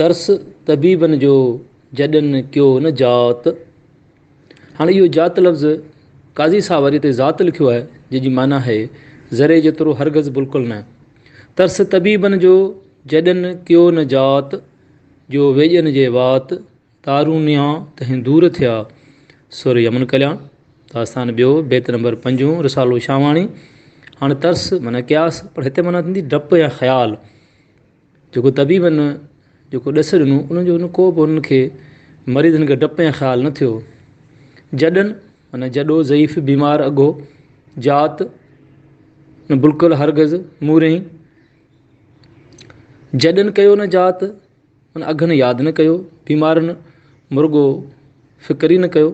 ترس طبيبن جو جڏن ڪيو نه جات. هاڻي اهو جات لفظ قاضي صاحب اڄ تي ذات لکيو آهي جنهن جي معنيٰ آهي ذري جيترو هرگز بلڪل نه. ترس طبيبن جو جڏن ڪيو نه جات جو ويڄن جي وات تارون نيان تهين دور ٿيا سر يمن ڪليان داستان ٻيو بيت نمبر پنجون رسالو شاهواڻي هاڻي ترس معنيٰ قياس پر هتي معنيٰ ٿيندي ڊپ يا خيال جيڪو طبيبن جيڪو ڏس ڏنو ان جو ان ڪوبه انهن کي مريضن کي ڊپ ۽ خيال نه ٿيو. جڏن، معنيٰ جڏو، ضعيف، بيمار، اگهو، جات، نه بلڪل، هرگز، مورئين، جڏن ڪيو نه جات، معنيٰ اگهن ياد نه ڪيو، بيمارن، مرڳو، فڪر ئي نه ڪيو.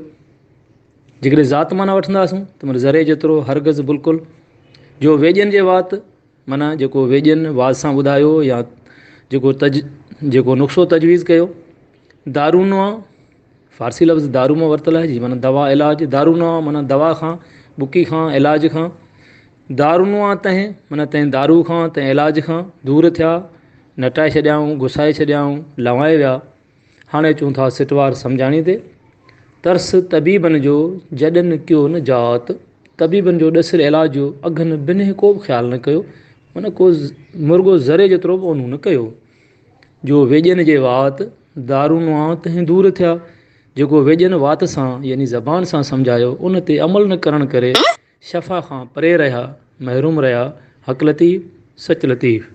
جيڪڏهن ذات معنيٰ وٺنداسون ته معنيٰ ذري جيترو، هرگز، بلڪل، جو ويڄن جي وات، معنيٰ جيڪو ويڄن واعظ سان ٻڌايو يا جيڪو تج جيڪو نقشو تجويز ڪيو دارونوا فارسي لفظ دارو مان ورتل آهي جي معنيٰ دوا علاج دارونوا معنيٰ دوا کان بڪي کان علاج کان دارونوا تنهن معنيٰ تنهن دارو کان تنهن علاج کان دور ٿيا نٽائي ڇڏيائون گسائي ڇڏيائون لوائي ويا هاڻي اچون ٿا سٽوار سمجهاڻي تي. ترس طبيبن جو جڏن ڪيو نه جات، طبيبن جو ڏسيل علاج جو اگهن بنهه ڪوبه خيال نه ڪيو، ان ڪو مرڳو ذري جيترو به اونهون نه ڪيو. جو ويڄن جي وات، دارو نوان تنهن دور ٿيا، جيڪو ويڄن وات سان يعني زبان سان سمجهايو، ان تي عمل نه ڪرڻ ڪري شفا کان پري رهيا، محروم رهيا، حق لطيف، سچ لطيف.